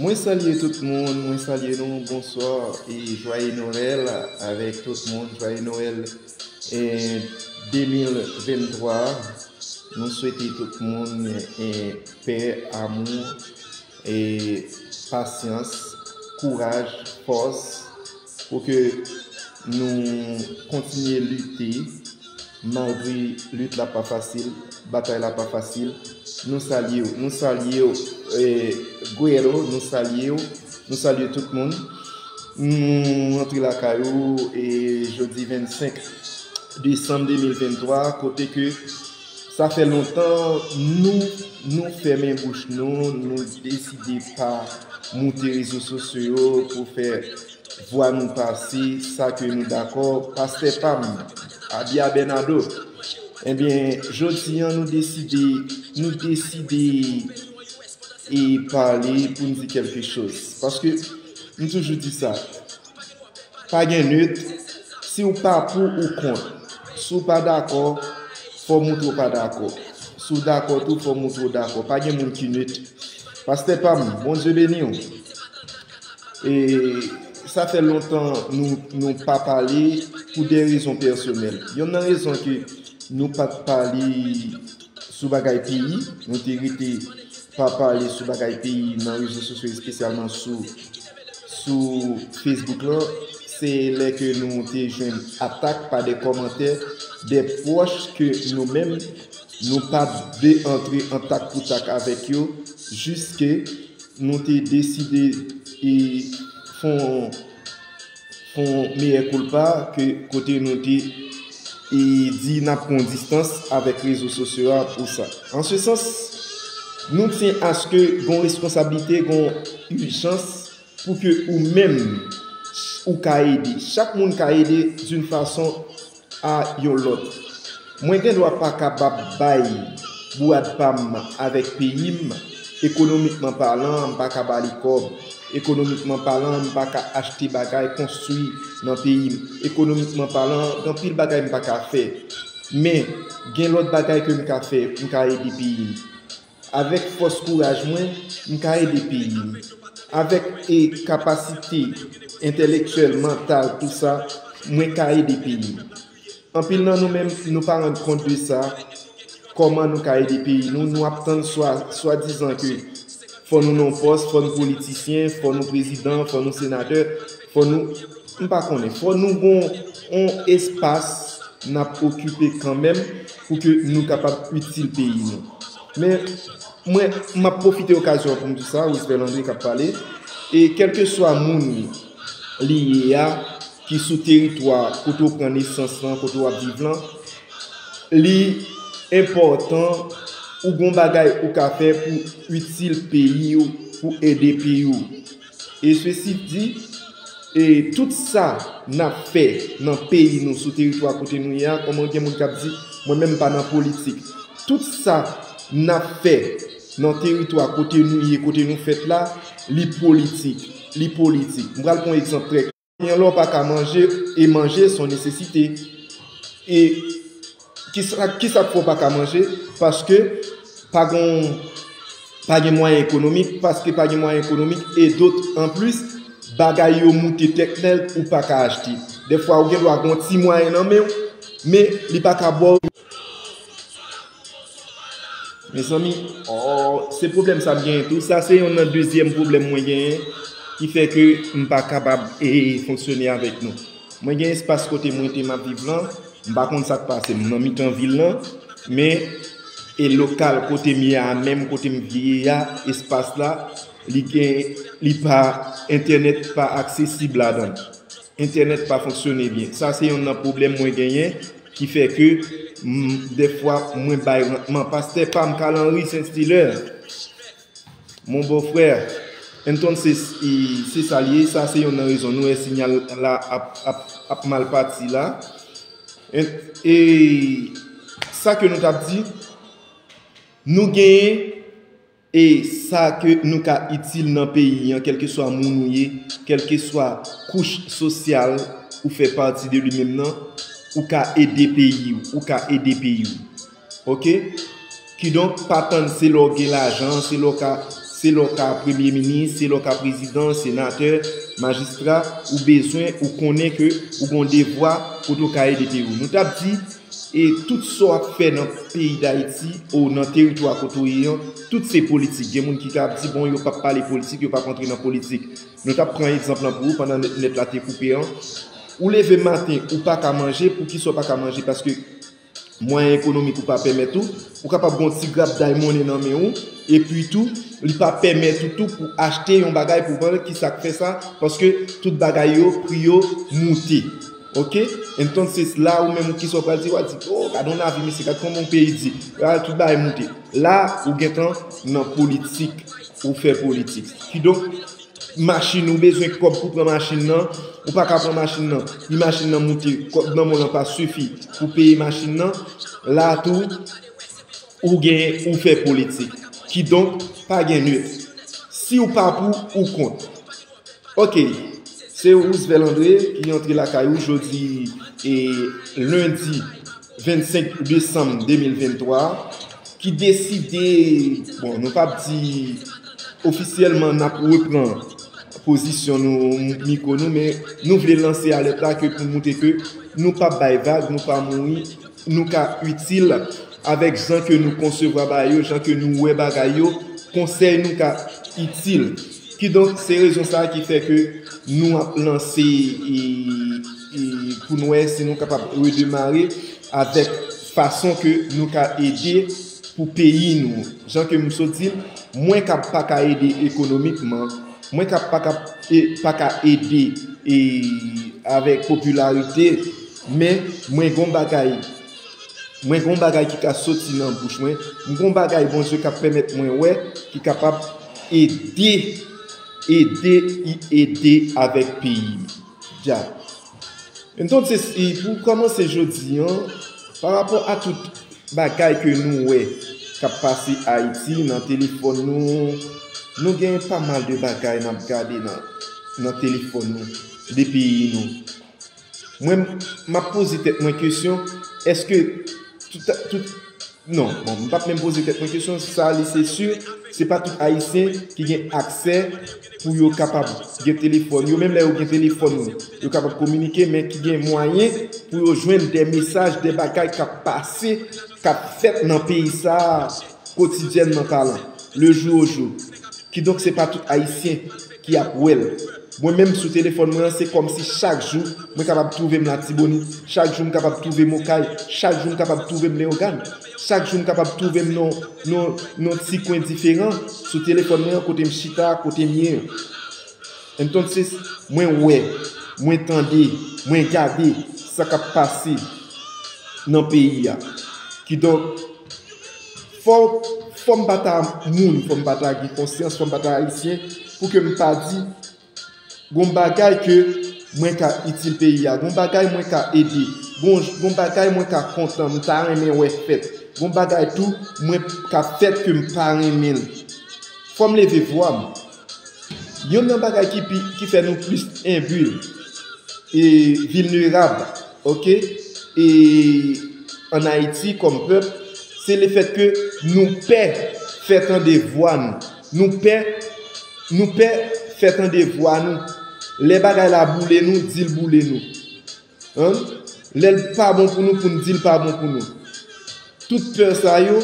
Mwen salye tout moun, mwen salye nou, bonswa e jwaye Noel avèk tout moun, jwaye Noel e 2023, nou swete tout moun e pè, amou, e pasyans, kouraj, fòs. Pou ke nou kontinye lite, malgre lit la pa fasil, batay la pa fasil, nou salye w. Nou salye w Guero, nou salye w, nou salye tout moun. Nou rantre lakay ou jodi 25 desanm 2023, kote ke. Sa fè lontan nou nou fèmen bouch nou, nou deside pa moute rezo sosyo yo pou fè vwa nou pase, sa ke nou dakò, pastè pa m, Abia Bernado. Enben, jodi an nou deside, nou deside e pale pou n di kèlke choz. Paske, m toujou di sa. Pa gen neut, si w pa pou ou kont. Si w pa dakò, fò w moutre w pa dakò. Si w dakò tou, fò w moutre w dakò. Pa gen moun ki neut. Pastè pa m, Bondye beni w. E, sa fè lontan nou, nou pa pale pou de rezon pèsonèl. Yonn nan rezon ke nou pa t pale. sou bagay peyi, nou te rete pa pale sou bagay peyi nan rezo sosyo espesyalman sou sou Facebook lan, se lè ke nou te jwenn atak pa de kòmantè de pwòch ke nou menm nou pa de antre an tak pou tak avèk yo jiske nou te deside e fon. Fon mea culpa ke kote nou te e di nap pran distans avek rezo sosyo a pou sa. An se sans, nou tyen aske gon responsablite, gon ijans pou ke ou menm ou ka ede. Chak moun ka ede d'une façon a yon lòt. Mwen gen dwa pa kapab bay bourad pa m avèk peyi m, ekonomikman palan, m pa ka ba li kòb, ekonomikman palan, m pa ka achte bagay konstwi nan peyi m, ekonomikman palan, gen anpil bagay m pa ka fè. Men, gen lòt bagay ke m ka fè, m ka ede peyi m. Avèk fòs kouraj mwen, m ka ede peyi m. Avèk e kapasite entèlektyèl, mantal, tou sa, mwen ka ede peyi m. Anpil nan nou menm nou pa rann kont de sa, kòman nou ka ede peyi nou, nou ap tann swa swadizan ke fò nou nan yon pòs, fò nou politisyen, fò nou prezidan, fò nou senatè, Fò nou, m pa konnen, fò nou gon on espas n ap okipe kanmenm pou ke nou kapab itil peyi nou. Men, mwen, m ap pwofite okazyon an pou m di sa, Roosevelt André k ap pale, e kèlkeswa moun li ye a, ki sou teritwa kote ou pran nesans lan, kote w ap viv lan, li enpòtan ou gon bagay ou ka fè pou itil peyi ou, pou ede peyi ou. E sesi di, e tout sa n ap fè nan peyi nou, sou teritwa kote nou ye a, kòman gen moun k ap di, mwen menm m pa nan politik. Tout sa n ap fè nan teritwa kote nou ye, kote nou fèt la, li politik. Li politik. M pral pran yon egzanp trè klè. Yon lè w pa ka manje, e manje son nesesite. E ki sa k fè w pa ka manje? Paske pa gon, pa gen mwayen ekonomik, paske pa gen mwayen ekonomik, e dot an plis, bagay yo moute tèt nèg ou pa ka achte. Dèfwa ou gen dwa gen yon ti mwayen nan men w, men li pa ka ba w. Mezanmi ooh se pwoblèm sa m genyen tou sa se yon nan dezyèm pwoblèm mwen genyen ki fè ke m pa kapab fonksyone avèk nou mwen gen espas kote mwen te map viv lan m pa konn sak pase m nan mitan vil lan men e lokal kote m ye a menm kote m te ye a espas la li gen li pa entènèt pa aksesib ladan entènèt pa fonksyone byen sa se yon nan pwoblèm mwen genyen Ki fè ke m dèfwa mwen bay rantman. Pastè pa m Carl Henry Saint Stiller Mon beau frère Entonces y se sa l ye Sa se yonn nan rezon nou wè sinyal la ap mal pati la E sa ke nou t ap di Nou genyen E sa ke nou ka itil nan peyi an kèlkeswa moun ou ye, kèlkeswa kouch sosyal ou fè pati de li menm nan, ou ka ede peyi w, ou ka ede peyi w. Ok? Kidonk pa tann se lè w gen lajan, se lè w ka, se lè w ka premye minis, se lè w ka prezidan, senatè, majistra, ou bezwen, ou konnen ke ou gon devwa kote w ka ede peyi w. Nou t ap di. E tout sa w ap fè nan peyi Dayiti ou nan teritwa kote ou ye an, tout se politik. Gen moun ki ka ap di, bon, yo p ap pale politik, yo p ap antre nan politik. Nou t ap pran egzanp lan pou ou pandan nèt la te koupe an. Ou leve maten, ou pa ka manje. Poukisa ou pa ka manje? Paske mwayen ekonomik ou pa pèmèt ou. Ou kapab gen yon ti grapday monnen nan men ou. Epi tou, li pa pèmèt ou tou pou achte yon bagay pou vann. Ki sa k fè sa? Paske tout bagay yo, pri yo moute. Ok entonces la ou menm ou kisa ou pral di wa di oh gad on avi mesye gad koman on peyi di la tout bagay moute la ou gentan nan politik ou fè politik kidonk machin ou bezwen kob pou pran machin nan ou paka pran machin nan pi machin nan moute kob nan men w lan pa sifi pou peye machin nan la tou ou gen ou fè politik kidonk pa gen nut si ou pa pou ou kont. Ok se Roosevelt André ki antre lakay ou jodi e lundi 25 desanm 2023 ki deside bon nou pap di ofisyèlman nap repran pozisyon nou miko nou men nou vle lanse alèt la ke pou moutre ke nou pap bay vag nou pa mouri nou ka itil avèk jan ke nou konsevwa bagay yo jan ke nou wè bagay yo konsèy nou ka itil Kidonk, se rezon sa a ki fè ke nou ap lanse pou nou wè si nou kapab redemare avèk fason ke nou ka ede pou peyi nou. Jan ke m sot di, mwen kab pa ka ede ekonomikman, mwen kab pa ka ede avèk popilarite, men mwen gen yon bagay. Mwen gen yon bagay ki ka soti nan bouch mwen. M gen yon bagay Bondye ka pèmèt mwen wè ki kapab ede, ede, ede avèk peyi m. Ya. Entonc se si pou kòmanse jodi an, parapò a tout bagay ke nou wè k ap pase Ayiti nan telefòn nou, nou gen pa mal de bagay n ap gade nan telefòn nou de peyi nou. Mwen map poze tèt mwen kesyon eske tout non bon m pap menm poze tèt mwen kesyon sa li se sur se pa tout ayisyen ki gen aksè pou yo kapab gen telefòn yo menm lè yo gen telefòn yo yo kapab kominike men ki gen mwayen pou yo jwenn de mesaj de bagay kap pase kap fèt nan peyi sa kotidyènman palan le jou au jour kidonk se pa tout ayisyen ki ap wè l. Mwen menm sou telefòn mwen an se kòmsi chak jou mwen kapab twouve m Latibonit, chak jou m kapab twouve m Okay, chak jou m kapab twouve m Leyogàn, chak jou m kapab twouve m nan yon nan yon ti kwen diferan sou telefòn mwen an kote m chita a, kote m ye an. Entonces, mwen wè, mwen tande, mwen gade sa k ap pase nan peyi a. Kidonk. Fòm pa ta moun, fòm pa ta gen konsyans, fòm pa ta ayisyen pou ke m pa di gon bagay ke mwen ka itil peyi a, gon bagay mwen ka ede, gon bagay mwen ka kontan, m ta renmen wè fèt, gon bagay tou mwen ka fèt ke m pa renmen l. Fò m leve vwa m. Youn nan bagay ki pi ki fè nou plis enbul e vilnerab ok e an Haiti kòm pèp se le fèt ke nou pè fè tande vwa nou nou pè nou pè fè tande vwa nou lè bagay la boule nou dil boule nou. Humm lèl pa bon pou nou poun dil pa bon pou nou tout peur sa yo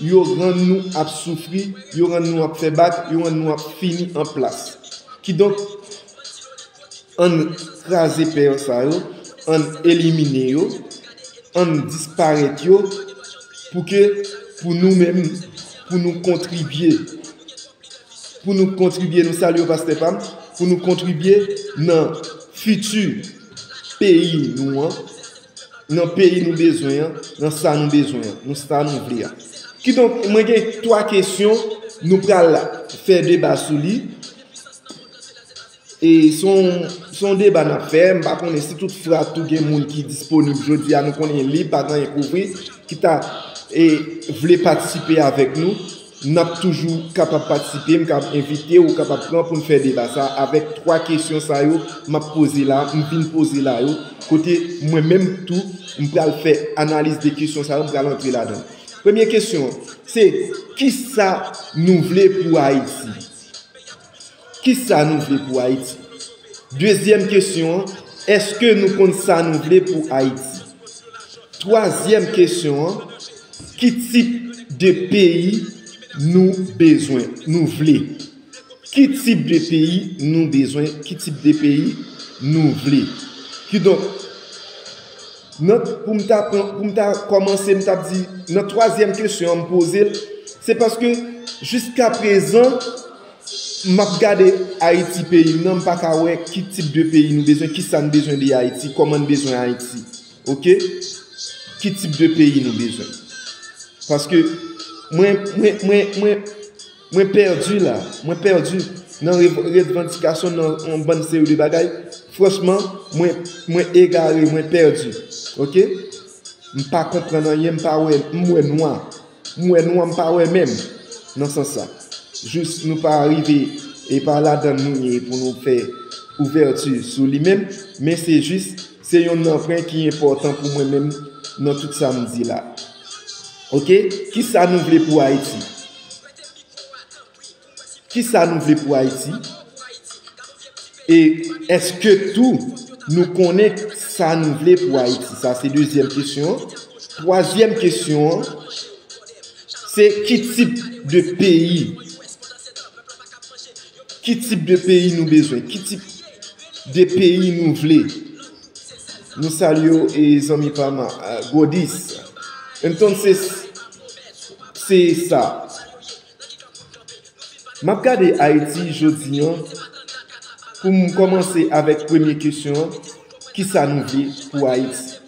yo rann nou ap soufri yo rann nou ap fè bak yo rann nou ap fini an plas kidonk ann kraze peur sa yo ann elimine yo ann disparèt yo pou ke pou nou menm pou nou kontribye pou nou kontribye nou salye w pastè pam pou nou kontribye nan fiti peyi nou an nan peyi nou bezwen an nan sa nou bezwen an nan sa nou vle a kidonk mwen gen 3 kesyon nou pral fè deba sou li. E se yon deba n ap fè, m pa konnen si tout fra tou gen moun ki disponib jodi a, nou konnen li pa gen kouvri, ki ta vle patisipe avèk nou, n ap toujou kapab patisipe, m kab envite ou kapab pran pou n fè deba sa a avèk 3 kesyon sa yo m ap poze la, m vin poze la yo, kote mwen menm tou m pral fè analiz de kesyon sa yo, m pral antre ladan. Premye kesyon, se kisa nou vle pou Ayiti? Kisa nou vle pou Ayiti? Dezyèm kesyon an, Èske nou konn sa nou vle pou Ayiti? Twazyèm kesyon an, Ki tip de peyi nou bezwen, nou vle? Ki tip de peyi nou bezwen, ki tip de peyi nou vle? Kidonk. Nan pou m ta pran pou m ta kòmanse m tap di nan twazyèm kesyon an m poze l se paske jiska prezan map gade Ayiti peyi m nan m pa ka wè ki tip de peyi nou bezwen kisa n bezwen de Ayiti kòman n bezwen Ayiti ok ki tip de peyi nou bezwen paske mwen mwen mwen mwen Mwen perdu la, mwen perdu nan redvandikasyon nan yon bann seri de bagay, franchman mwen mwen egare mwen perdu ok m pa konprann anyen m pa wè m wè nwa m wè nwa m pa wè menm nan sans sa jous nou pa rive e pa ladann nou ye pou nou fè ouvèti sou li menm men se jis se yon nan pwen ki enpòtan pou mwen menm nan tout sa m di la ok kisa nou vle pou ayiti. Ki sa nou vle pou Ayiti? E eske tou nou konnen sa nou vle pou Ayiti? Sa se dezyèm kesyon an. Twazyèm kesyon an, se ki tip de peyi? Ki tip de peyi nou bezwen? Ki tip de peyi nou vle? Nou salye w zanmi pa m Godis. Entonces, Se sa. M ap gade Ayiti jodi an, pou m kòmanse avèk premye kesyon an, ki sa nou vle pou Ayiti?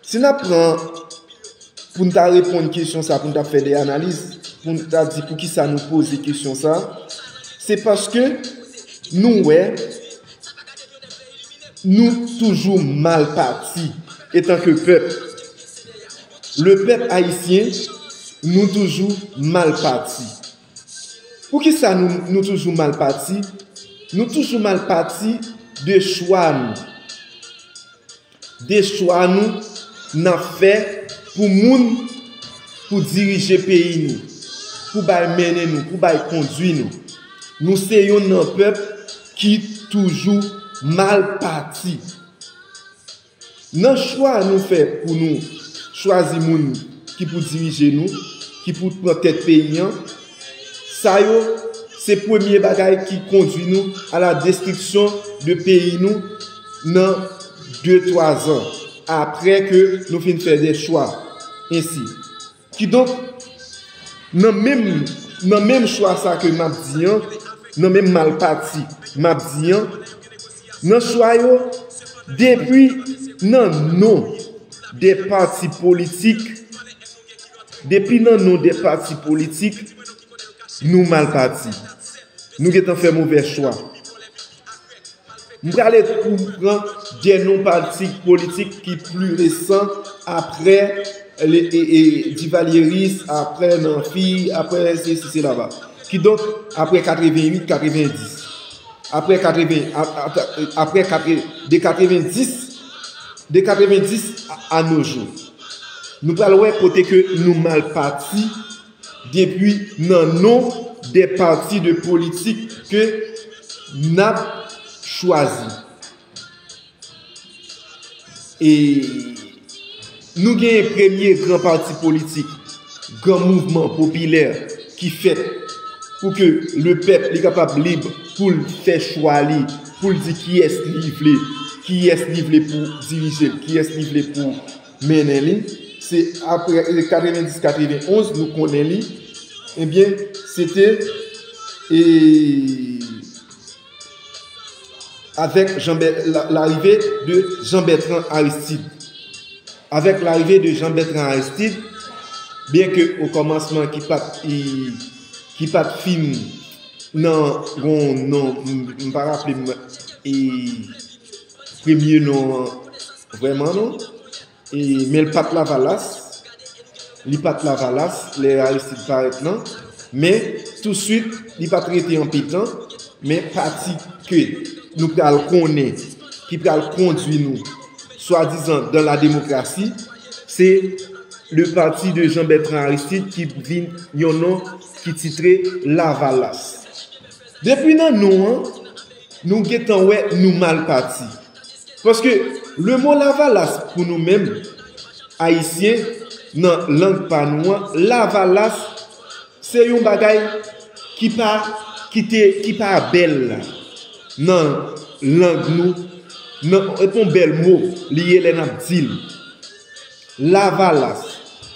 Si n ap pran pou n ta reponn kesyon sa a, pou n ta fè de analiz, pou n ta di pou ki sa nou poze kesyon sa a, se paske nou wè nou toujou mal pati etanke pèp. Le pèp ayisyen nou toujou mal pati Pou kisa nou nou toujou mal pati Nou toujou mal pati de chwa nou De chwa nou nap fè pou moun Pou dirije peyi nou Pou bay mennen nou Pou bay kondwi nou Nou se yon nan pèp ki toujou mal pati. Nan chwa nou fè pou nou chwazi moun ki pou dirije nou, ki pou pran tèt peyi an, sa yo se premye bagay ki kondwi nou a la destriksyon de peyi nou nan de twa zan apre ke nou fin fè de chwa ensi. Kidonk, nan menm nan menm chwa sa ke m ap di an, nan menm mal pati m ap di an, nan chwa yo, depi nan non de pati politik, depi nan non de pati politik, nou mal pati. Nou gen tan fè movè chwa. M prale pou m pran de non pati politik ki pli resan apre divalyeris, apre nanfi, apre se si se la ba. Ki donk apre 88, 90. Apre 90, de 90 a nojou. Nou prale wè kote ke nou mal pati. Depi nan non de pati de politik ke n ap chwazi. E nou genyen premye gran pati politik, gran mouvman popilè ki fèt pou ke le pèp li kapab lib pou l fè chwa li, pou l di kiyès li vle, kiyès li vle pou dirije l, kiyès li vle pou. mennen li se aprè 90 91 nou konnen li ebyen se te e avèk larive de Jean Bertrand Aristide avèk larive de Jean Bertrand Aristide byen ke o kòmansman ki pat ki pat fin nan gon non m pa raple m e premye non an vrèman non e men l pat lavalas li pat lavalas lè Aristide parèt lan men touswit li pat rete anpe tan men pati ke nou pral konnen ki pral kondwi nou swadizan dan la demokrasi se le pati de Jean Bertrand Aristide ki vin yon non ki titre lavalas depi nan non an Nou gentan wè nou mal pati. Paske lemo lavalas pou nou menm Ayisyen nan lang pa nou an lavalas se yon bagay ki pa ki te ki pa bèl nan lang nou nan e pa yon bèl mo li ye lè n ap di l lavalas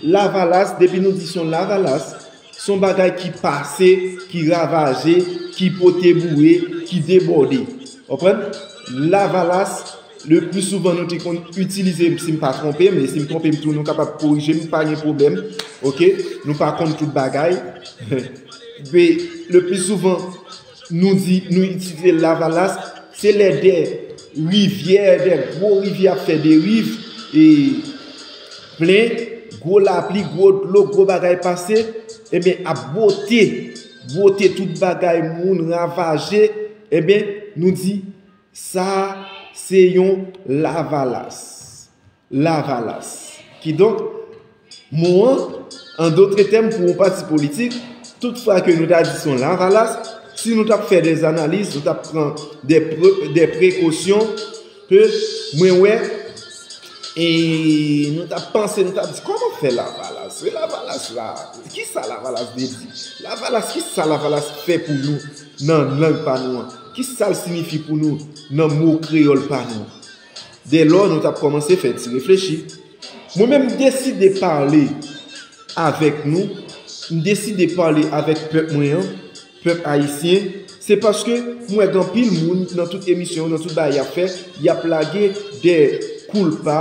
lavalas depi nou di son lavalas Son bagay ki pase, ki ravaje, ki pote boure, ki debòde. Konprann? Lavalas, le pli souvan nou te konn itilize, si m pa twonpe m, e si m twonpe m tou nou kapab korije m, pa gen pwoblèm, ok, nou pa konn tout bagay, le pli souvan, Nou di, nou itilize lavalas, se lè de rivyè, de gwo rivyè ap fè deriv, e plen, gwo lapli, gwo dlo, gwo bagay pase, eben ap bwote, bwote tout bagay moun ravaje, eben nou di, sa se yon lavalas. Lavalas. Kidonk, mo an, an dotre tèm pou yon pati politik, tout fwa ke nou ta di se yon lavalas, si nou t ap fè dè analiz, nou t ap pran dè prekosyon, ke mwen wè, e nou t ap panse, nou t ap di, kòman fè lavalas? E lavalas la, ki sa lavalas vle di? Lavalas, ki sa lavalas fè pou nou nan lang pa nou an? Ki sa l sinifi pou nou nan mo kreyòl pa nou an? Dèlò nou t ap kòmanse fè ti reflechi. Mwen menm m deside pale avèk nou, m deside pale avèk pèp mwen an, pèp ayisyen, se paske m wè gen anpil moun nan tout emisyon yo, nan tout bagay y ap fè, y ap lage dè koulpa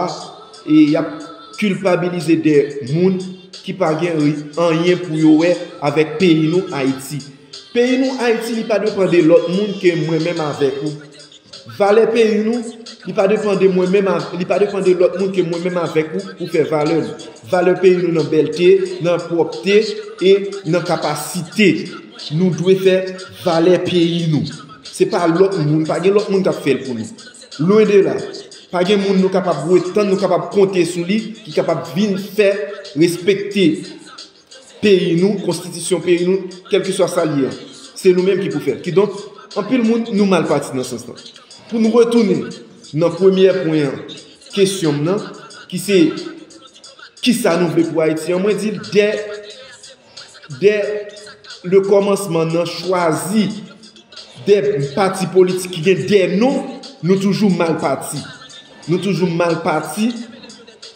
e y ap kilpabilize dè moun ki pa gen anyen pou yo wè avèk peyi nou Ayiti. Peyi nou Ayiti li pa depan de lòt moun ke mwen menm avèk ou. Valè peyi nou, li pa depan de mwen menm avè, li pa depan de lòt moun ke mwen menm avèk ou pou fè valè nou. Valè peyi nou nan bèlte, nan pwòpte e nan kapasite. Nou dwe fè valè peyi nou. Se pa lòt moun, pa gen lòt moun kap fèl pou nou. Lwen de la. Pa gen moun nou kapab retann, nou kapab konte sou li ki kapab vin fè respekte. peyi nou, konstitisyon peyi nou, kèlkeswa sa l ye a, se nou menm ki pou fè l. Kidonk, anpil moun, nou mal pati nan sans lan. Pou n retounen nan premyè pwen an kesyon m nan, ki se, Kisa nou vle pou Ayiti an? Mwen di l, dè dè lekòmansman nan chwazi dè pati politik ki gen dè non, nou toujou mal pati. Nou toujou mal pati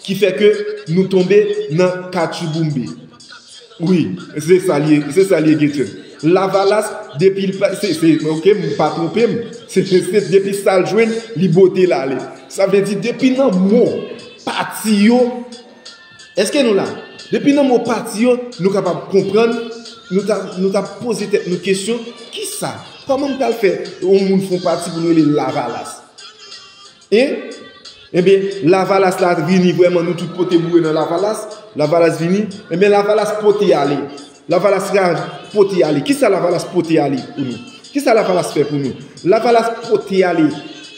ki fè ke nou tonbe nan katchouboumbe. Wi, se sa li ye, se sa li ye Gator. Lavalas depi l pa, se, se, oke m pa twonpe m, se, se depi sa l jwenn li bwote l ale. Sa vle di depi nan mo pati yo, èske nou la? Depi nan mo pati yo nou kapab konprann, nou ta, nou ta poze tèt nou kesyon, kisa, kòman m pral fè yon moun fon pati pou nou rele l lavalas? E Ebyen lavalas la vini vreman nou tout pote boure nan lavalas Lavalas vini Ebyen lavalas pote ale Lavalas ra pote ale Kisa lavalas pote ale pou nou Kisa lavalas fè pou nou Lavalas pote ale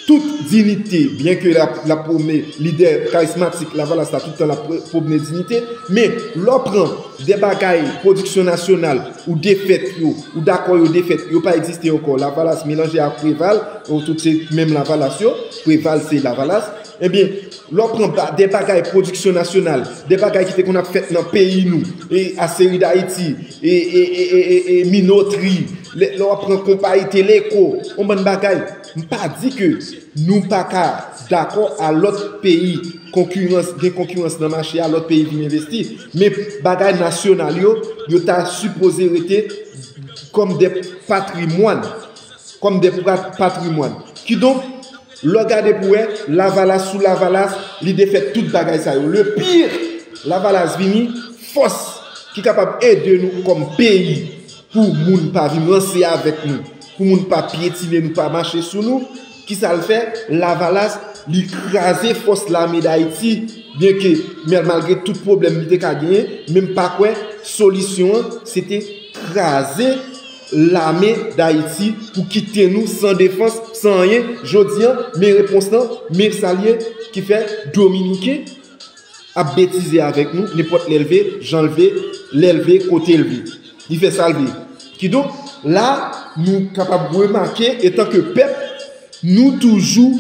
Tout dinite Byen ke lap pwome lide karismatik lavalas la tout tan lap pwome dinite Men lò pran de bagay pwodiksyon nasyonal ou defèt yo ou dakò yo defèt yo pa egziste ankò lavalas melanje ak preval Ou tout se menm lavalas yo, Preval se lavalas. Ebyen, lè w pran ba de bagay pwodiksyon nasyonal, de bagay ki te konn ap fèt nan peyi nou, e Aseri Dayiti, e Minotri, lè w ap pran konpayi Teleko, on bann bagay, m pa di ke nou pa ka dakò a lòt peyi konkirans, gen konkirans nan mache a, lòt peyi vin envesti, men bagay nasyonal yo, yo ta sipoze rete kòm de patrimwàn kòm de patrimwàn. Kidonk, lè w gade pou wè, Lavalas sou Lavalas, li defèt tout bagay sa yo. Le pire, Lavalas vini, fòs ki kapab ede nou kòm peyi pou moun pa vin ranse avèk nou, pou moun pa pyetine nou, pa mache sou nou, ki sa l fè? Lavalas, li kraze fòs Lame Dayiti, byenke, malgre tout pwoblèm li te ka genyen, men m pa kwè solisyon an se te kraze. lame dayiti pou kite nou san defans san anyen jodi an men repons lan men sa liye ki fè dominiken ap betize avèk nou nenpòt lèl vle janl vle lèl vle kotel vle li fè sal vle kidonk la nou kapab remake etanke pèp nou toujou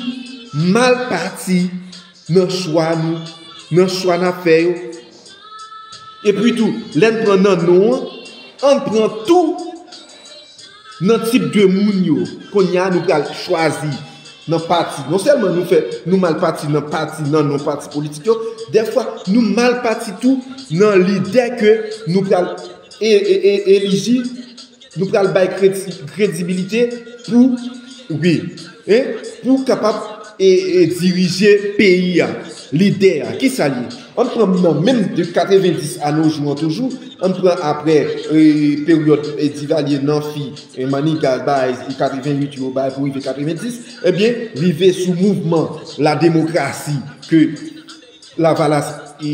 mal pati. Nan chwa nou, nan chwa n ap fè yo. Epitou, lè n pran nan non an, ann pran tou nan tip de moun yo. Kounye a, nou pral chwazi nan pati. Non sèlman nou fè, nou mal pati nan pati, nan non pati politik yo, dèfwa nou mal pati tou nan lide ke nou pral eliji Nou pral bay kredibilite pou wi e pou kapab e dirije peyi a. Lide a ki sa l ye? An n pran nan menm de 90 a no jou an toujou, an n pran apre e peryòd Divalye, Nanfi, Maniga bay 88 yo bay pou rive 90, ebyen rive sou mouvman lademokrasi ke Lavalas e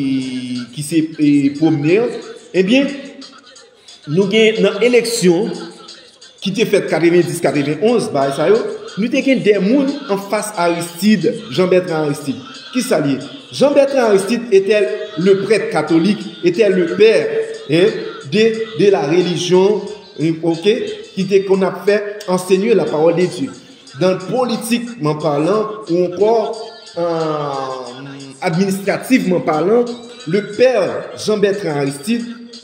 ki se e pwomne an, ebyen. Nou gen nan eleksyon ki te fèt 90, 91, bagay sa yo, nou te gen 2 moun an fas Aristide, Jean Bertrand Aristide. Ki sa l ye? Jean Bertrand Aristide etè le prèt katolik, etè le pè de la relijyon, ok, ki te konn ap fè ansenye la pawòl de Dye. Dan politikman palan, ou ankò administrativman palan, le pè Jean Bertrand Aristide,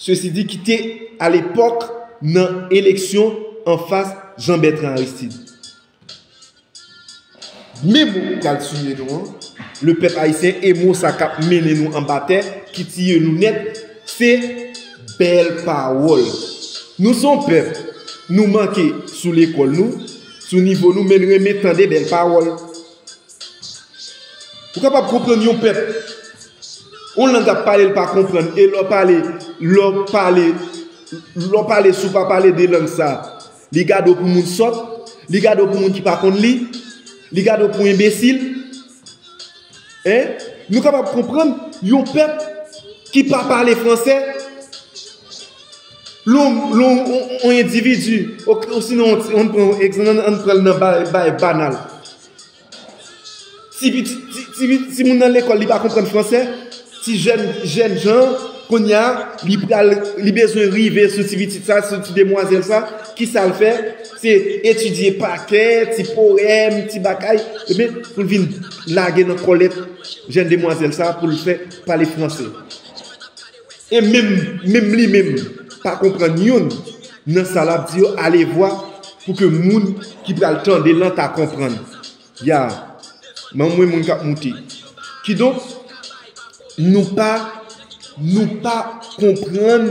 Sesi di ki te a lepòk nan eleksyon anfas Jean Bertrand Aristide. Men mo ki pral tiye nou an, le pèp ayisyen e mo sa kap mennen nou anba tè ki tiye nou nèt se bèl pawòl. Nou son pèp, nou manke sou lekòl nou, sou nivo nou men renmen tande bèl pawòl. Ou kapab konprann yon pèp, yon lang ap pale l pa konprann, e lè w pale, lè w pale, lè w pale si w pa pale de lang sa, li gade w pou moun sòt, li gade w pou moun ki pa konn li, li gade w pou enbesil. E, nou kapab konprann yon pèp ki pa pale franse, lè w, lè w, yon endividi, osinon, an n pran, an n pran nan bay, bay banal, Ti moun nan lekòl li pa konprann fransè, ti jèn jan kounye a li pral li bezwen rive sou ti pitit sa, sou ti demwazèl sa, ki sa l fè? Se etidye pa kè, ti powèm, ti bagay, epi pou l vin lage nan kòlèt jèn demwazèl sa pou l fè pale fransè. E menm menm li menm pa konprann youn nan sa lap di yo alevwa pou ke moun ki pral tande lan ta konprann yaa m'en mwen moun kap moute kidonk nou pa nou pa konprann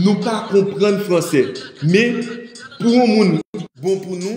nou pa konprann fransè men pou yon moun bon pou nou.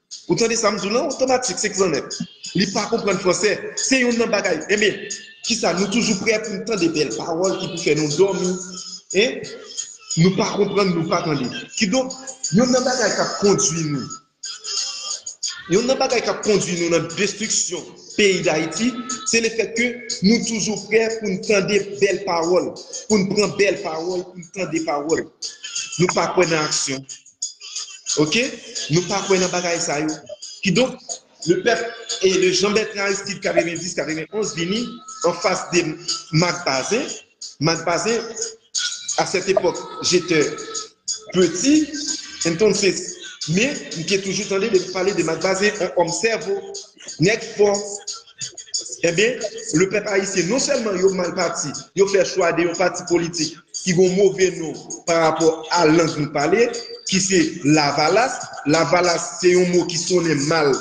Ou tande sam di w lan otomatik se klanèt li pa konprann fransè se youn nan bagay enben kisa nou toujou prè poun tande bèl pawòl ki pou fè nou dòmi en nou pa konprann nou pa tande kidonk youn nan bagay kap kondwi nou youn nan bagay kap kondwi nou nan destriksyon peyi dayiti se le fèt ke nou toujou prè poun tande bèl pawòl poun pran bèl pawòl poun tande pawòl nou pa kwè nan aksyon Ok nou pa kwè nan bagay sa yo ki donk le pèp e le Jean Bertrand Aristide 90 91 vini an fas de Marc Bazin Marc Bazin a cette époque j'etait petit entonces me m te toujou tande de pale de Marc Bazin on homme sèvo nèg fò enben le pèp ayisyen non sèlman yo mal pati yo fè chwa de yon pati politik ki gon move non pa rapò a lang nou pale, ki se lavalas, lavalas se yon mo ki sonnen mal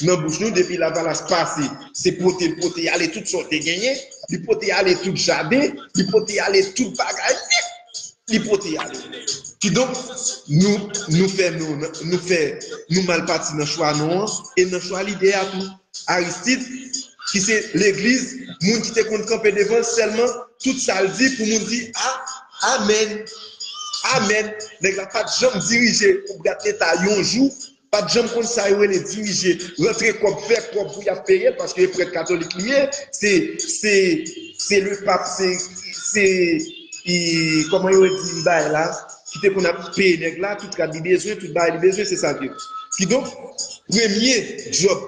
nan bouch nou, depi lavalas pase, se pote, l pote ale tout sa w te genyen, li pote ale tout jaden, li pote ale tout bagay nèt, li pote ale. Kidonk, nou fè non, nou fè, nou mal pati nan chwa non an, e nan chwa lide a tou. Aristide ki se legliz moun ki te konn kanpe devanl sèlman tout sal di pou moun di a amen amen nèg la pat janm dirije pou bgad leta yon jou pat janm konn sa yo rele dirije rantre kòb fè kòb pou yap peyel paske prèt katolik li ye se se se le pap se se. ki kòman yo rele li bay la, ki te konn ap peye nèg la, tout rad li bezwen, tout bagay li bezwen, se sa l te. Kidonk, premye djòb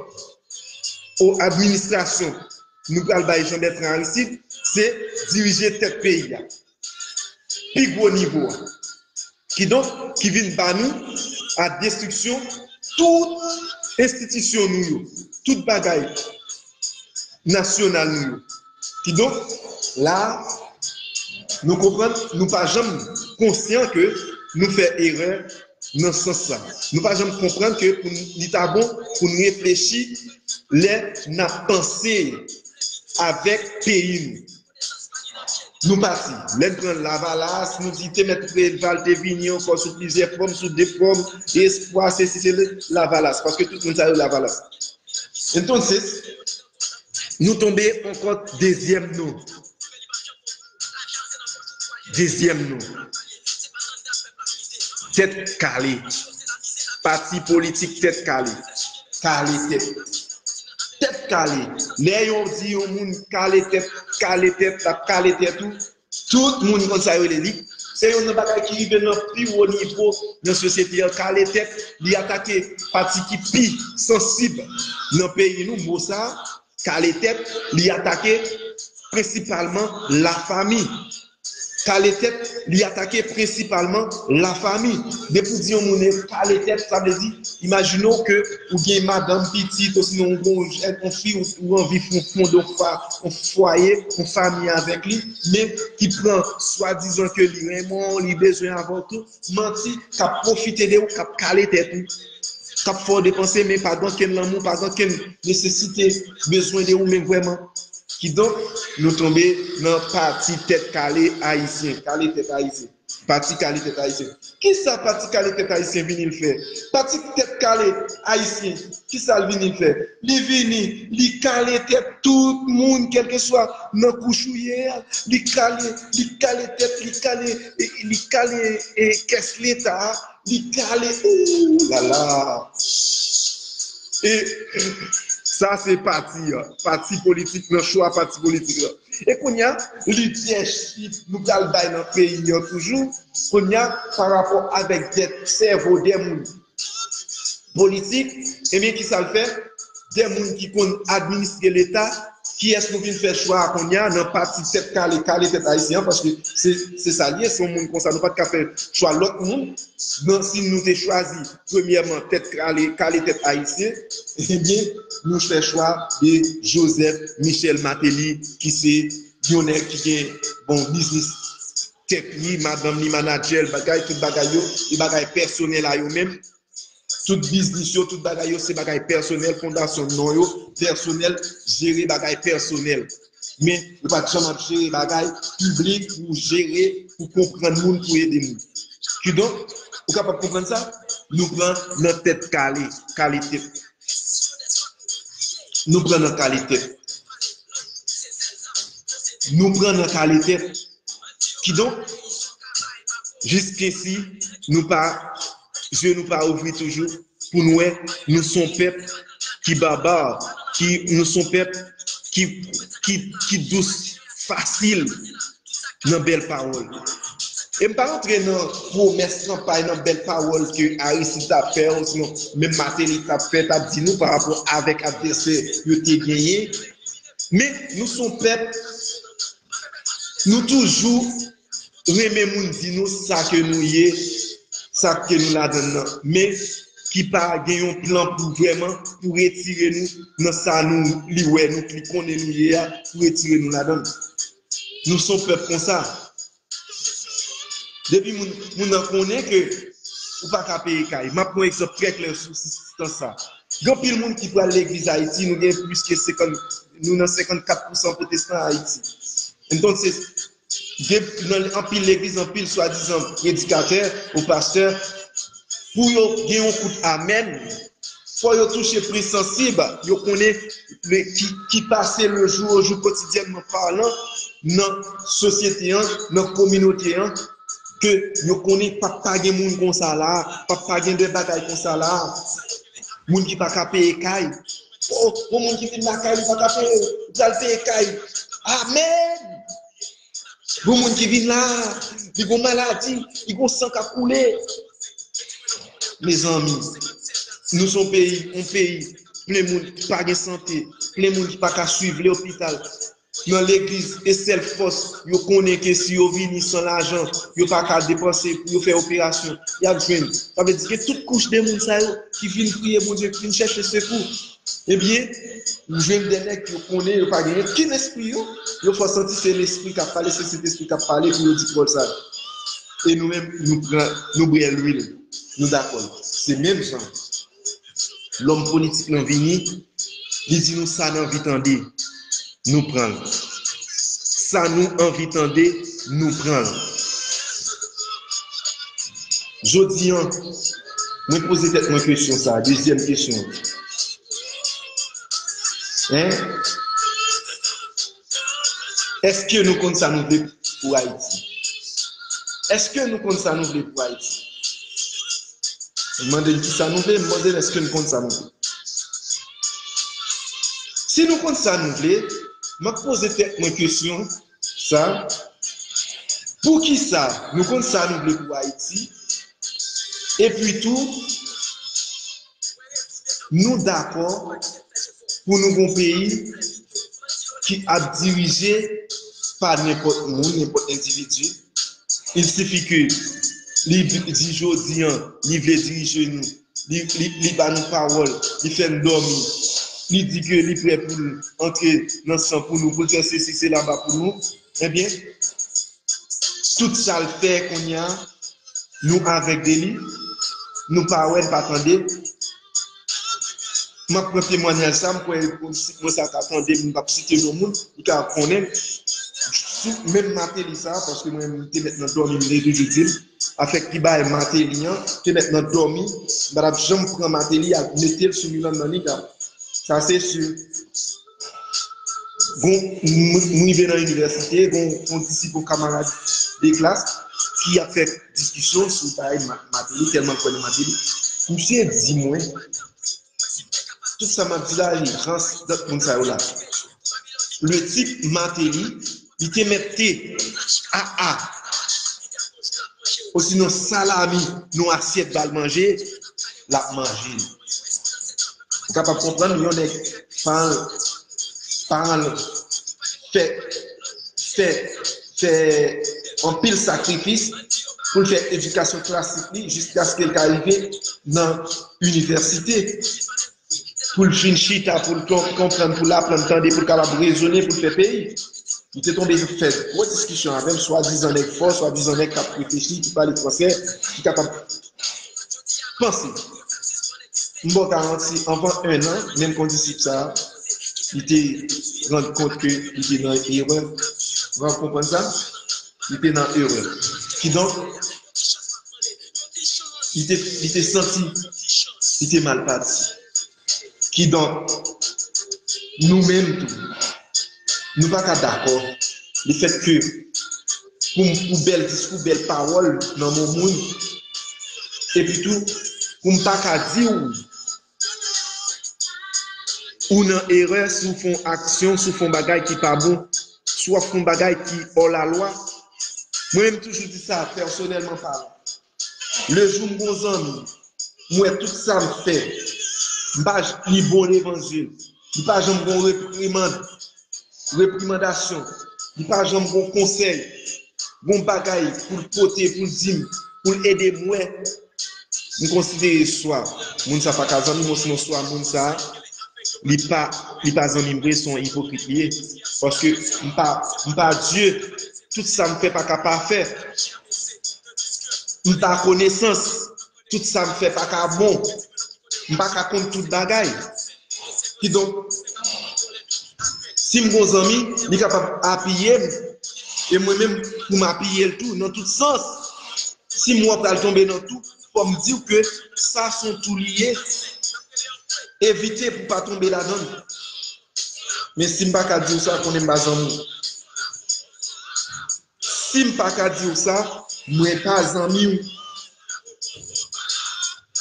o administrasyon nou pral bay Jan Bètran Aristid, se dirije tèt peyi a. Pi gwo nivo a. Kidonk, ki vin ba nou a destriksyon tout enstitisyon nou yo, tout bagay nasyonal nou yo. Kidonk, la a, nou konprann, nou pa janm konsyan ke nou fè erè nan sans sa. Nou pa janm konprann ke pou n, li ta bon pou n reflechi lè n ap panse avèk peyi nou. Nou pati. Lè n pran Lavalas, nou di te mèt Preval te vini ankò sou plizyè fòm, sou de fòm, espwa, se si, se le, Lavalas, paske tout moun sa yo Lavalas. Entonces, nou tonbe ankò dezyèm non. Dezyèm non. Tèt kale. Pati politik tèt kale. Kale tèt. Tèt kale, lè yon di yon moun kale tèt, kale tèt, l ap kale tèt ou, tout moun konn sa yo rele li. Se yonn nan bagay ki rive nan pi wo nivo nan sosyete an, kale tèt, li atake pati ki pi sansib nan peyi nou, mo sa, kale tèt, li atake prensipalman lafanmi. Kale tèt, li atake prensipalman lafami. Depi w di yon moun kale tèt, sa vle di, imajine w ke ou gen madanm, pitit, osinon ou gen yon fi ou anvi fè yon fon de fwa, yon fwaye, yon fami avèk li, men ki pran swadizan ke li renmen w, li bezwen avè w tou, manti, kap pwofite de ou, kap kale tèt ou, kap fè w depanse men pa gen okenn lanmou, pa gen okenn nesesite, bezwen de ou menm vrèman. Kidonk, nou tonbe nan pati tèt kale ayisyen, kale tèt ayisyen, pati kale tèt ayisyen. Kisa pati kale tèt ayisyen vini l fè? Pati tèt kale ayisyen, kisa l vini l fè? Li vini, li kale tèt tout moun kèlkeswa nan kouch ou ye a, li kale, li kale tèt, li kale li kale kès leta li kale ooh lala e sa se pati an pati politik nan chwa pati politik lan e kounya li dyè chif nou pral bay nan peyi an toujou kounya parapò avèk dèt sèvo dè moun Politik, ebyen kisa l fè? De moun ki konn administre leta, kiyès nou vin fè chwa a kounye a nan pati tèt kale, kale tèt ayisyen an paske se sa l ye, se yon moun konsa nou pa t ka fè chwa lòt moun, nan si nou te chwazi premyèman tèt kale, kale tèt ayisyen, ebyen nou fè chwa de Joseph Michel Martelly ki se yon nèg ki gen bon biznis tèt li madanm li manadjèl bagay tout bagay yo e bagay pèsonèl a yo menm tout biznis yo tout bagay yo se bagay pèsonèl fondasyon non yo pèsonèl jere bagay pèsonèl men ou pat janm ap jere bagay piblik pou jere pou konprann moun pou ede moun kidonk ou kapab konprann sa nou pran nan tèt kale kale tèt nou pran nan kale tèt nou pran nan kale tèt. Kidonk, jiskesi nou pa, zye nou pa ouvri toujou pou n wè nou son pèp ki babar, ki nou son pèp ki ki dous fasil nan bèl pawòl. E m pa rantre nan pwomès kanpay, nan bèl pawòl ke Aristide ta fè osinon menm Mateli ta fè, ta di nou pa rapò avèk advèsè yo te genyen. Men nou son pèp. Nou toujou renmen moun di nou sa ke nou ye, sa ke nou ladann nan, men ki pa gen yon plan pou vrèman pou retire nou nan sa nou li wè nou, li konnen nou ye a, pou retire nou ladann. Nou son pèp konsa. Depi moun moun nan konnen ke ou pa ka peye kay. Map pran egzanp trè klè sou sou tan sa. Gen anpil moun ki pral legliz Ayiti, nou gen plis ke 50 Nou nan 54 pousan potestan Ayiti. Entonse, gen nan anpil legliz, anpil swadizan predikatè ou pastè, pou yo gen yon kout amèn, fò yo touche pri sansib, yo konnen ki pase le jou o jou kotidyènman palan nan sosyete an, nan kominote an, ke yo konnen pa p pa gen moun konsa la a, pa p pa gen de bagay konsa la a, moun ki pa ka peye kay. Oh, yon moun ki vin lakay li pa ka peye, li pral peye kay. Amen! Yon moun ki vin la, li gon maladi, li gon san ka koule. Mezanmi, nou son peyi, yon peyi, plen moun ki pa gen sante, plen moun ki pa ka suiv lopital. Nan legliz e sèl fòs yo konnen ke si yo vini san lajan yo pa ka depanse pou yo fè operasyon yap jwenn sa vle di ke tout kouch de moun sa yo ki vin priye Bondye ki vin chèche sekou ebyen ou jwenn de nèg yo konnen yo pa genyen ki lespri yo yo fè w santi se lespri kap pale se sentespri kap pale pou yo di pawòl sa yo e nou menm nou pran nou bwè lwil nou dakò l se menm jan. Lòm politik lan vini, li di nou sa n anvi tande, nou pran l. Sa nou anvi tande, nou pran l. Jodi an, mwen poze tèt mwen kesyon sa a, dezyèm kesyon an. Hein? Eske nou konn sa nou vle pou Ayiti? Eske nou konn sa nou vle pou Ayiti? M mande n kisa nou vle, m mande n eske n konn sa nou vle? Si nou konn sa nou vle, m ap poze tèt mwen kesyon sa, poukisa nou konn sa nou vle pou Ayiti? Epi tou, Nou dakò pou nou gon peyi ki ap dirije pa nenpòt moun, nenpòt endividi. Il sifi ke li di jodi an li vle dirije nou, li ba nou pawòl, li fè n dòmi, li di ke li prè pou l antre nan san pou nou, pou l fè sesi sela ba pou nou. Ebyen tout sal fè kounya nou avèg de li nou pa wè n pa tande map pran temwanyaj sa m kwè si mwen sa ta tande m pap site non moun li ka ap konnen l sou menm Mateli sa paske mwen m te mèt nan dòmi m te toujou di l afè ki bay Mateli an te mèt nan dòmi m pa tap janm pran Mateli al mete l sou Miranda ni tap sa se sur. Gon, m rive nan inivèsite, gon yon disip yon kamarad de klas ki ap fè diskisyon sou bagay Mateli, tèlman l kwè nan Mateli. Misye di mwen, tout sa m ap di la, li rans, dat moun sa yo la. Le tip Mateli, Li te mèt te aa osinon salami nou asyèt bal manje lap manje l. Ou kapab konprann yon nèg paran l paran l fè fè fè anpil sakrifis pou l fè edikasyon klasik li jiskaske l ka rive nan inivèsite. pou l fin chita, pou l konprann, pou l aprann tande, pou l kapab rezone, pou l fè peyi. Li te tonbe fè gwo diskisyon avè m, swadizan nèg fò, swadizan nèg k ap reflechi, ki pale fransè, ki kapab panse. M ba w garanti, anvan ennan, menm kondisip sa a, li te rann kont ke li te nan erè. Mwen ap konprann sa? Li te nan erè. Kidonk, li te santi li te mal pati. Kidonk, nou menm tou, nou pa ka dakò lefètke pou bèl diskou, bèl pawòl nan moun, epitou pou m pa ka di ou Ou nan erè si w fon aksyon, si w fon bagay ki pa bon, si w ap fon bagay ki ò la lwa. Mwen menm m toujou di sa pèsonèlman palan. Le jou m gon zanmi, m wè tout sa m fè, m pa li bon devan zye l. Li pa janm gon reprimand, reprimandasyon. Li pa janm gon konsèy, gon bagay pou l pote, pou l di m, pou l ede mwen. M konsidere swa moun sa pa ka zanmi m osinon swa moun sa li pa li pa zanmi m vre, se yon ipokrit li ye. Paske m pa m pa Dye, tout sa m fè pa ka pafè. M pa konesans. Tout sa m fè pa ka bon. M pa ka konn tout bagay. Kidonk, si m gon zanmi, li kapab apiye m, e mwen menm pou m apiye l tou nan tout sans. Si m wè w ap pral tonbe nan tou, fò m di w ke sa s on tou li ye, evite pou w pa tonbe ladan l. Men si m pa ka di w sa, konnen m pa zanmi w. Sim paka diw sa mwen pa zanmiw.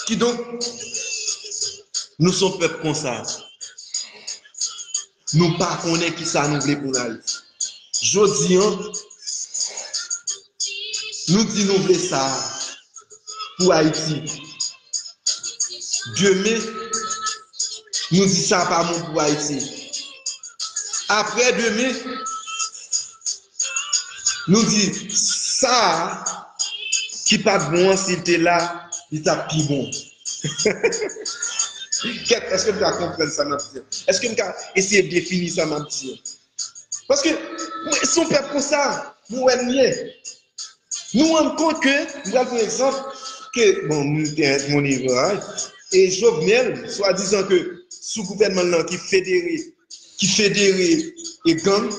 Kidonk nou son pèp konsa nou pa konnen kisa nou vle pou nal. Jodi an nou di nou vle sa pou ayiti demen nou di sa pa bon pou ayiti aprè demen Nou di sa ki pat bon an sil te la li tap pi bon Kèt eske nou ka konprann sa map di an eske nou ka eseye defini sa map di an paske mwen son pèp konsa mwen wè nou ye nou rann kont ke m pral pran egzanp ke bon nou te ak moun Iran e Jovenel swadizan ke sou gouvènman l lan ki federe ki federe e gang,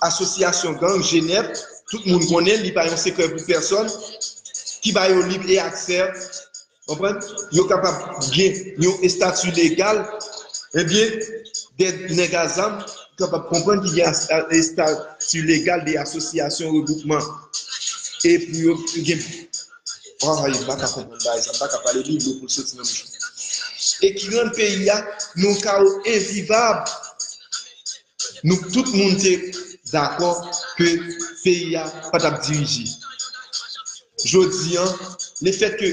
asosyasyon gang Jenèv, tout moun konnen l, li pa yon sekrè pou pèsòn, ki ba yo lib e aksè, konprann, yo kapab gen yon estati legal, ebyen, de nèg a zam, ou kapab konprann ki gen estati legal de asosyasyon, regwoupman, e pou yo gen. Waww m paka konprann bagay sa m paka pale li dlo pou soti nan bouch mwen e ki rann peyi a nan kawo envivab nou k tout moun te dakò ke peyi a pa tap dirije jodi an le fèt ke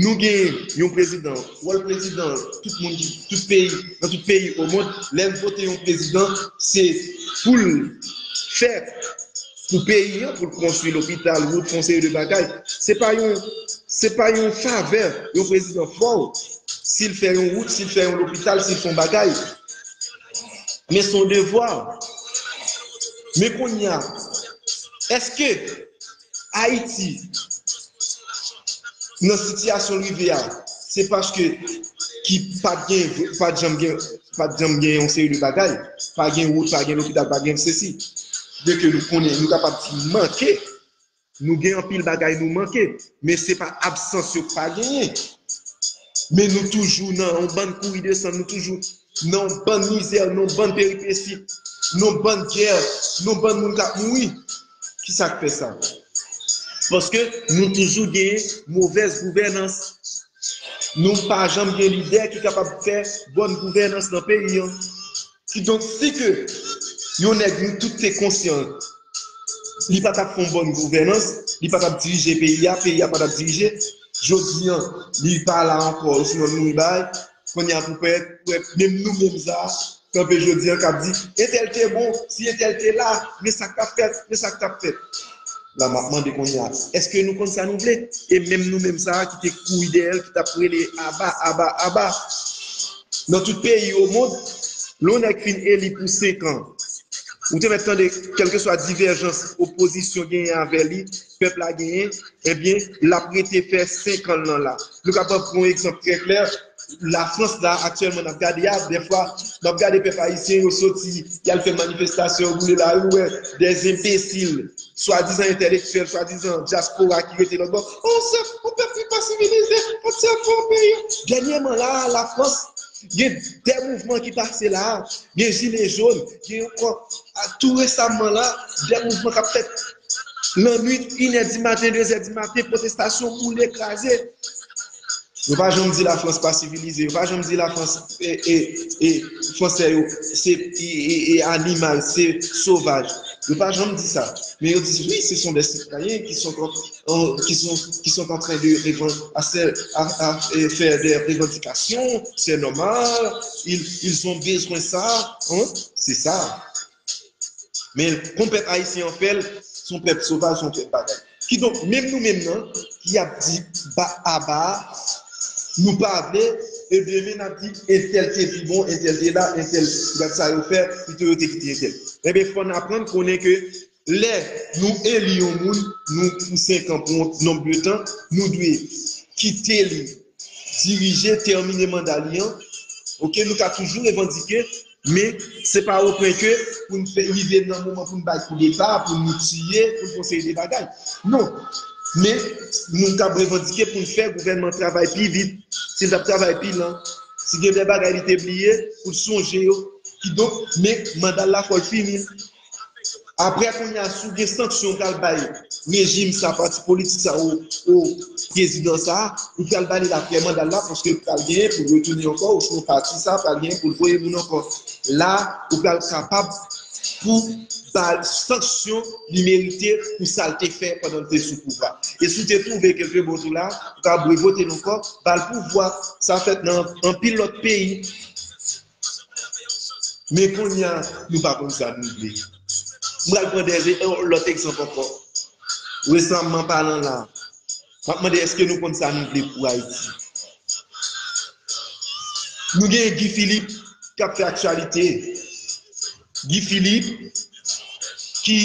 nou gen yon prezidan wòl prezidan tout moun ki tout peyi nan tout peyi o mond lè l vote yon prezidan se pou l fè sou peyi an pou l konstwi lopital, wout, fon seri de bagay. Se pa yon se pa yon favè yon prezidan fè w si l fè yon wout, si l fè yon lopital, si l fè yon bagay. Men son devwa. Men konya, eske Ayiti nan sitiyasyon l rive a, se paske ki pat gen, pat janm gen, pat janm gen yon seri de bagay, pa gen wout, pa gen lopital, pa gen sesi, byen ke nou konnen, nou kapab di manke, nou gen anpil bagay nou manke, men se pa absans yo k pa genyen, men nou toujou nan yon bann kouri desann, nou toujou Nan yon bann mizè, nan yon bann peripesi, nan yon bann gè, nan yon bann moun k ap mouri. Ki sa k fè sa? Paske nou toujou gen movèz gouvènans. Nou pa janm gen lidè ki kapab fè bòn gouvènans nan peyi an. Kidonk, si ke yon nèg nou tout te konsyan li pa t ap fè yon bòn gouvènans, li pa t ap dirije peyi a, peyi a pa t ap dirije, jodi an li pa la ankò osinon l mouri bay, Kounye a pou pèt, pou wè menm nou menm sa a, kanpe jodi an k ap di, entèl te bon, si entèl te la, men sa k t ap fèt, men sa k t ap fèt. La m ap mande kounye a, èske nou konn sa nou vle? E menm nou menm sa a ki te kouri dèyè l, ki t ap rele aba, aba, aba. Nan tout peyi omond, lè yon nèg fin eli pou senkan, ou te mèt tande kèlkeswa divèjans opozisyon genyen avè li, pèp la genyen, ebyen l ap rete fè 5 an l lan la. Nou ka pran yon egzanp trè klè, Lafrans la aktyèlman n ap gade a, dèfwa m ap gade pèp ayisyen yo soti y al fè manifestasyon, yo boule lari, ou wè dè enbesil, swadizan entèlektyèl, swadizan dyaspora ki rete lòtbò, o se yon pèp ki pa sivilize, o se yon fo peyi. Dènyèman la a, Lafrans gen dè mouvman ki pase la a, gen jile jòn, gen ankò tou resamman la a, dè mouvman k ap fèt Nan nwit, inè di maten, dezè di maten, pwotestasyon, boule, kraze. Yo pa janm di Lafrans pa sivilize, yo pa janm di Lafrans e Fransè yo se animal, se sovaj. Yo pa janm di sa. Men yo di wi, se son dè sitwayen ki son antren de fè dè revandikasyon, sè nòmal, ils ont besoin sa. Se sa. Men kon pèp ayisyen an fè l, s on pèp sovaj, s on pèp bagay. Kidonk, menm nou menm nan ki ap di ba aba a, nou pa vle, e demen n ap di entèl te pi bon, entèl te la, entèl gad sa yo fè, pito yo te kite entèl. Enben, fò n aprann konnen ke lè nou eli yon moun, nou pou senkan, pou yon nonb de tan, nou dwe kite li dirije, tèmine manda li an. Ok, nou ka toujou revandike. Men, se pa o pwen ke pou n fè rive nan moman pou n bay koudeta, pou nou tiye, pou n fè yon seri de bagay. Non. Men, nou kab revandike pou n fè gouvènman travay pi vit, si l t ap travay pi lan, si gen de bagay li te bliye, pou l sonje yo. Kidonk, men, manda l la fò l fini. Aprè kounya si w gen sanksyon ou pral bay rejim sa, pati politik sa ou prezidan sa, ou pral ba li laprè manda l la paske l pral genyen pou l retounen ankò osnon pati sa pral genyen pou l voye moun ankò. La ou pral kapab pou ba l sanksyon li merite pou sa l te fè pandan l te sou pouvwa. E si w te twouve ke l te bon tou la, ou kapab revote l ankò, ba l pouvwa. Sa fèt nan anpil lòt peyi. Men kounye a, nou pa konn sa nou vle. M pral pran de yon lòt egzanp ankò. Resamman palan la, m ap mande èske nou konn sa nou vle pou Ayiti? Nou gen Guy Philippe k ap fè aktyalite. Guy Philippe ki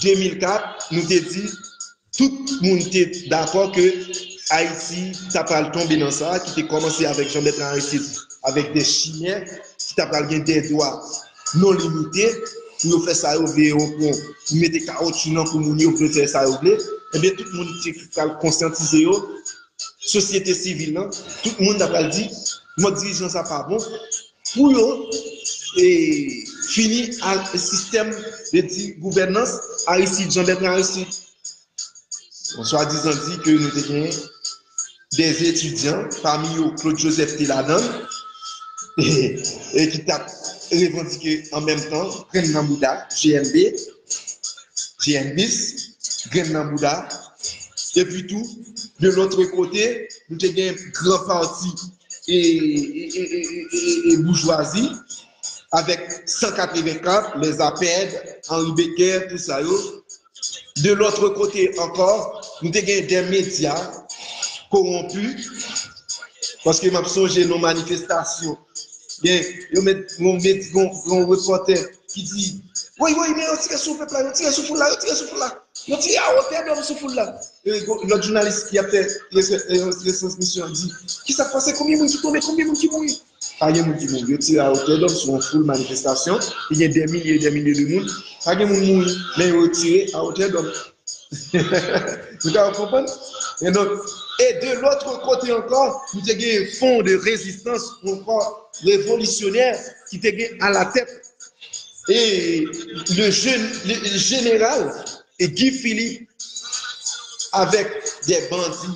2004 nou te di Tout moun te dakò ke Ayiti ta pral tonbe nan sa, ki te kòmanse avèk Jean-Bertrand Aristide avèk dè chimè ki ta pral gen dè dwa non limite pou yo fè sa yo vle e o pwen pou mete kawotchou nan kou moun yo pou yo fè sa yo vle. Ebyen tout moun te pral konsyantize yo, sosyete sivil lan, tout moun ta pral di mòd dirijan sa pa bon. Pou yo fini ak sistèm de di gouvènans Aristide, Jean Bertrand Aristide. Bon, swa dizan di ke nou te gen de etidyan, pami yo Claude Joseph te ladan, e ki tap revandike an menm tan grenn nan bouda GNB, GNBis, grenn nan bouda. Epi tou, de lotre kote, nou te gen gran pati e boujwazi avèk 184 lè zapèd anri bekè tout sa yo de lòtre kote ankò nou te gen dè medya kowonpi paske map sonje nou manifestasyon gen yon mèd yon mèd yon repotè ki di woy woy men yon tire sou pèp la yon tire sou foul la yon tire sou foul la yon tire a otè dòm sou foul la Lòt jounalis ki ap fè retransmisyon an di, Ki sa k pase? Konbyen moun ki tonbe? Konbyen moun ki mouri? Pa gen moun ki mouri. Yo tire a otè dòm sou yon foul manifestasyon ki gen dè milye e dè milye de moun. Pa gen moun mouri, men yo tire a otè dòm. Nou ka konprann? E donk, e de lotre kote ankò, nou te gen yon fon de rezistans ou ankò revolisyonè ki te gen alatèt e le jeneral E Guy Philippe avèk dè bandi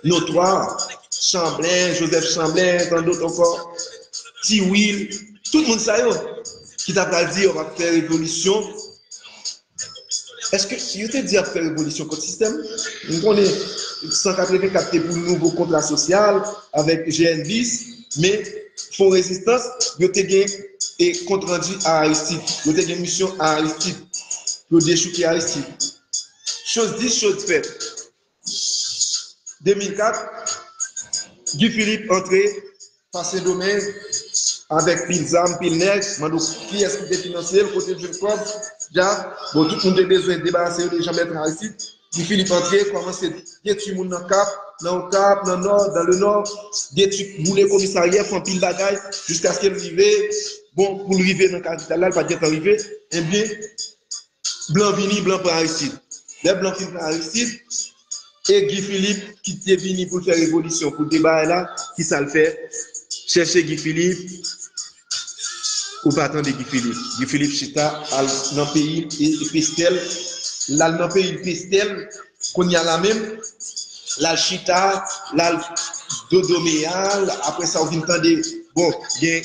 notwa, Chanblen, Joseph Chanblen, tan dot ankò, Ti Wil, tout moun sa yo ki ta pral di yo ap fè revolisyon, èske yo te di yo ap fè revolisyon kont sistèm? Nou konnen 184 te pou nouvo kontra sosyal avèk GNBis. Men, Fon Rezistans, yo te gen e kont randi a Aristid. Yo te gen misyon a Aristid. Yo dechouke Aristid. Choz di, choz fèt. 2004, Guy Philippe antre pa Sendomeng avèk pil zam, pil nèg. Mande w kiyès ki te finanse l, kote l jwenn kòb? Dja, bon, tout moun te bezwen debarase yo de Jean-Bertrand Aristide. Ti Filip antre, kòmanse detwi moun nan Kap, nan Okap, nan Nò, dan le Nò, detwi, boule komisaryè, fè anpil bagay, jiskaske l rive, bon, pou l rive nan kapital la, l pa t gen tan rive, enben, blan vini, blan pran Aristid. Lè blan fin pran Aristid, e Gi Filip ki te vini pou l fè revolisyon, pou l te bagay la, ki sa l fè? Chèche Gi Filip. Ou pa tande Guy Philippe. Guy Philippe chita al nan peyi Pestel. L al nan peyi Pestel. Kounye a la menm, l al chita, l al dodomeya. Apre sa ou vin tande, bon, gen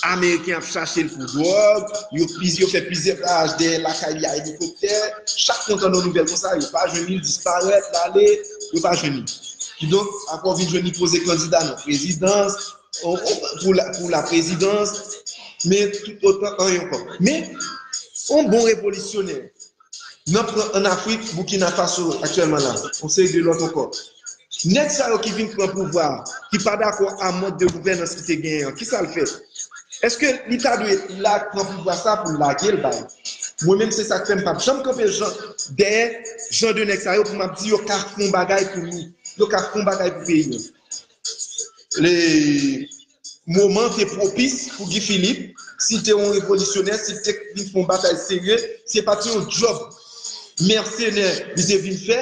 Ameriken ap chache l pou dwòg. Yo fè plizyè baraj dèyè lakay li a elikoptè. Chak fwa ou tande yon nouvèl konsa, yo pa jwenn li, li disparèt, l ale, yo pa jwenn li. Kidonk, apre ou vin jwenn li poze kandida nan prezidans, pou la prezidans, men tout otan an yon kòp. Men, yon bon revolisyonè, nan pran an Afrik, Boukina Faso, aktyèlman la, yon seri de lòt ankò. Nèg sa yo ki vin pran pouvwa, ki pa dakò a mòd de gouvènans ki te genyen an, ki sa l fè? Eske li ta dwe la pran pouvwa sa pou l lage l bay? Mwen menm se sa k fè m pa p janm kanpe dèyè jan de nèg sa yo pou m ap di yo ka fon bagay pou nou, yo ka fon bagay pou peyi an. Le moman te pwopis pou Guy Philippe, si l te yon revolisyonè, si l te vin fè yon batay serye, se pa t yon djòb mèsenè li te vin fè,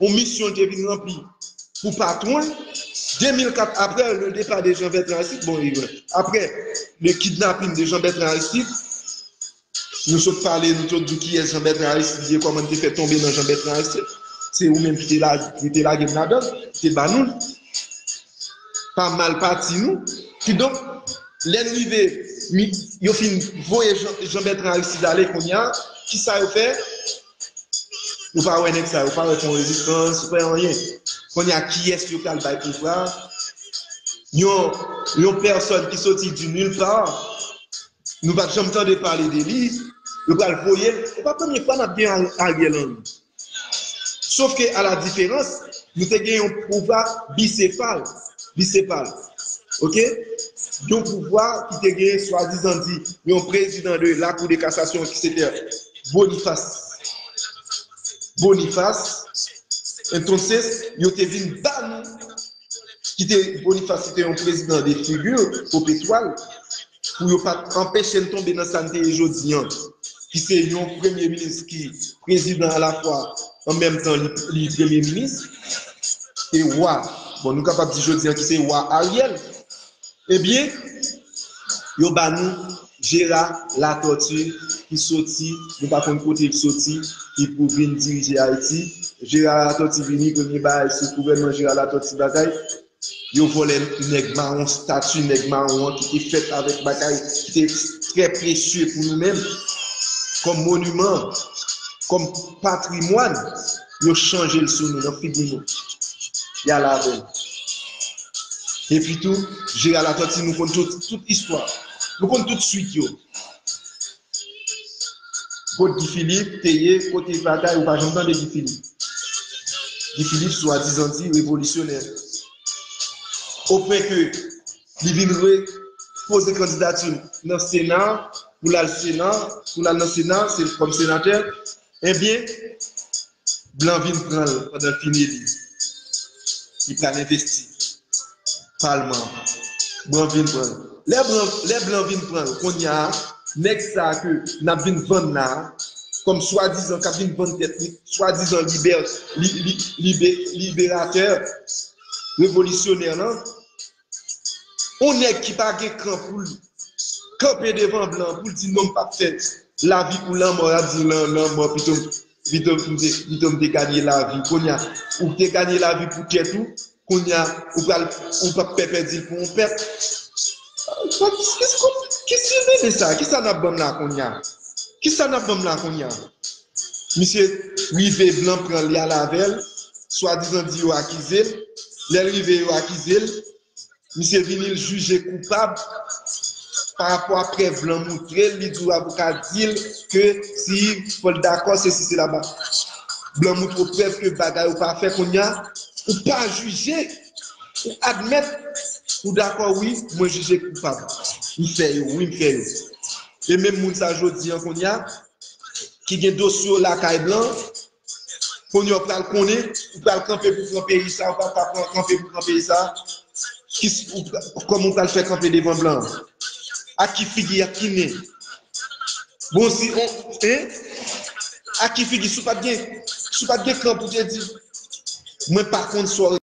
yon misyon li te vin ranpli pou patwon l. 2004, apre le depa de Jean Bertrand Aristide, bon, apre le kidnapin de Jean Bertrand Aristide, Nou sot pale, nou sot di kiyès Jean-Bertrand Aristide ye, kòman li te fè tonbe nan Jean-Bertrand Aristide. Se ou menm ki te lage m ladan l, ki te ban nou l. Pa mal pati nou. Kidonk, lè n rive, yo fin voye Jean-Bertrand Aristide ale kounye a, kisa yo fè? Ou pa wè nèg sa yo, ou pa wè Fon Rezistans, ou pa wè anyen. Kounye a, kiyès yo pral bay pouvwa? Yon pèsòn ki soti di nil pa, Nou pat janm tande pale de li, yo pral voyel, se pa premye fwa nap gen Ariel Henry. Sof ke a la diferans, nou te gen yon pouvwa bisefal, bisepal. Ok? Yon pouvwa ki te gen swadizan di yon prezidan de la kou de kasasyon ki se te Bonifas, Bonifas, entonses yo te vin ba nou, ki te Bonifas ki te yon prezidan de figure popetwal, pou yo pa t anpeche n tonbe nan sa n te ye jodi an, ki se yon premye minis ki prezidan alafwa an menm tan li premye minis e wa, bon nou kapab di jodi an ki se wa Ariel, ebyen yo ba nou Jera Latòti ki soti nou pa konn kote l soti ki pou vin dirije Ayiti. Jera Latòti vini premye bagay se gouvènman Jera Latòti bagay Yo vòlè nèg mawon stati nèg mawon an ki te fèt avèk bagay ki te trè presye pou nou menm kòm moniman, kòm patrimwàn, yo chanje l sou nou nan figi nou. Y ale avè l. Epi tou, Jera Latòti nou konn tout istwa. Nou konn tout swit yo. Kot Guy Philippe te ye kote batay ou pa janm tande Guy Philippe Guy Philippe swadizan di revolisyonè o pwen ke li vin re poze kandidatil nan sena pou lal sena pou lal nan sena se kòm senatè ebyen Blan vin pran l pandan l fin eli. Li pral envesti palman an. Blan vin pran l. Lè blan vin pran l, konnya a, nèg sa a ke n ap vin vann la a, kòm swadizan, k ap vin vann tèt li, swadizan libè, li, li, li, li, liberatè, revolisyonè lan, On nèg ki pa gen kran pou l kanpe devan blan an pou l di non m pap fè lavi ou lanmò l ap di lan lanmò pito m pito m pito m te ganye lavi kounye a ou te ganye lavi pou tèt ou kounye a ou pral ou pap pè pèdi l pou on pèp ki ki mele sa ki sa n ap ban m la kounye a ki sa n ap ban m la kounye a Misye rive blan pranl li al avèl, swadizan di yo akizel, lèl rive yo akizel, misye vini l jije koupab parapò a prèv blan moutrel, li di avoka dil ke si fòl dakò sesi sela ba blan moutre w prèv ke bagay ou pa fè kounya ou pa jije ou admèt ou dakò wi mwen jije koupab m fè yo wi m fè yo e menm moun sa jodi an kounya ki gen dosye yo lakay blan kounye ou pral konnen ou pral kanpe pou pran peyi sa ou pral pa pran kanpe pou pran peyi sa kòman ou pral fè kanpe devan blan ak ki figi ak ki nen bon si on ak ki figi si ou pat gen si ou pat gen kan pou te di mwen pa konn sa w